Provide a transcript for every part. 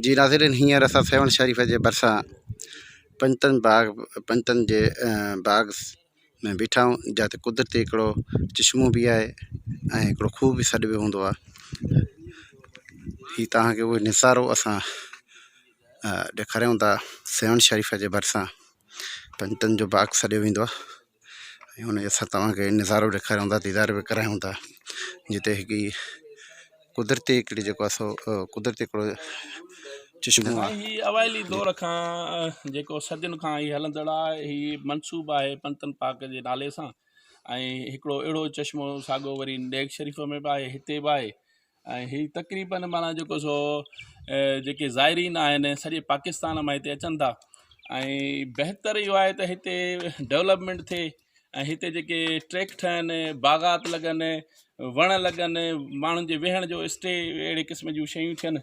جي ناظرين هينئر اسان سيوهڻ شريف جي ڀرسان پنجتن باغ پنجتن جي باغ ۾ بيٺا آهيون جاته قدرتي هڪڙو چشمو به آهي ۽ هڪڙو کوهه به سڏ به هوندو آهي هي تهانکي اهو نظارو اسان ڏيکاريون ٿا سيوهڻ شريف جي ڀرسان پنجتن جو باغ سڏيو ويندو آهي ۽ ان جي اسان تواکي نظارو به ڏيکاريون ٿا ديدار به ڪرايون ٿا جتي ھڪڙي قدرتي ھڪڙي جيڪو آ سو قدرتي ھڪڙو چشمو آ. ھي اوائلي دور کان جيڪو صدين کان ھي ھلندڙ آ ھي منسوب آھي پنتن پاڪ جي نالي سان ۽ ھڪڙو اھڙو چشمو ساڳو وري نيگ شريف ۾ به آھي ھتي به آھي ۽ هي تقريباً معنيٰ جيڪو سو جيڪي زائرين آهن سڄي پاڪستان مان هتي اچن ٿا ۽ بهتر اهو آهي ته هتي ڊولپمينٽ ٿئي ۽ هتي جيڪي ٽريڪ ٺهن باغات لڳن وڻ لڳن ماڻهن جي ويهڻ جو اسٽي اهڙي قسم جون شيون ٿين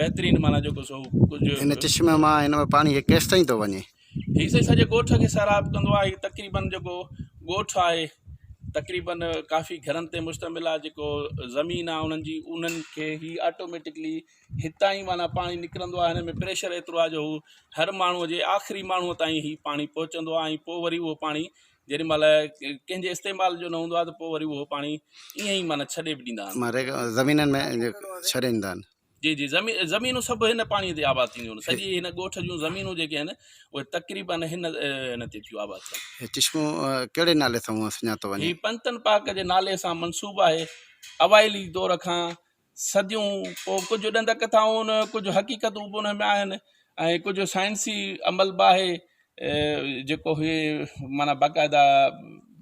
بهترين معنيٰ جيڪو سو ڪجهه ان چشمه مان هن ۾ پاڻي هي ڪيستائين ٿو وڃي هي سائين سڄي ڳوٺ کي سيراب ڪندو آهي تقريبن جيڪو ڳوٺ آهي تقريبن ڪافي گهرن تي مشتمل آهي جيڪو زمين آهي انهن جي انهن کي هي آٽوميٽڪلي هتان ئي معنيٰ پاڻي نڪرندو آهي هن ۾ پريشر ايترو آهي جو هو هر ماڻهوء جي آخري ماڻهوء تائين هي پاڻي پهچندو آهي ۽ پوء وري اهو پاڻي جيڏي مھل ڪنھن جي استعمال جو نه ھوندو آھي ته پوء وري اھو پاڻي ايئن ئي معنيٰ ڇڏي به ڏيندا آھن ماريگا زمينن ۾ ڇڏي ڏيندا آھن جي جي زمين زمينون سڀ ھن پاڻي تي آباد ٿينديون آھن سڄي ھن ڳوٺ جون زمينون جيڪي آھن اھي تقريبا ھن ھن تي ٿيون آباد ٿين ھي چشمو ڪهڙي نالي سان سڃاتو وڃي ھي پنتن پاڪ جي نالي سان منسوب آھي اوائلي دور کان صديون پوء ڪجهه ڏند ڪٿائون ۽ ڪجهه حقيقتون به انهن ۾ آهن ۽ ڪجهه سائنسي عمل به آهي جيڪو هي معنيٰ باقاعده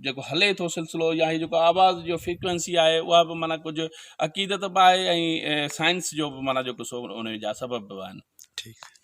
جيڪو هلي ٿو سلسلو يا هي جيڪو آواز جو فيڪوينسي آهي اها به معنيٰ ڪجهه عقيدت به آهي ۽ سائنس جو به معنيٰ جيڪو سو ان جا سبب به آهن ٺيڪ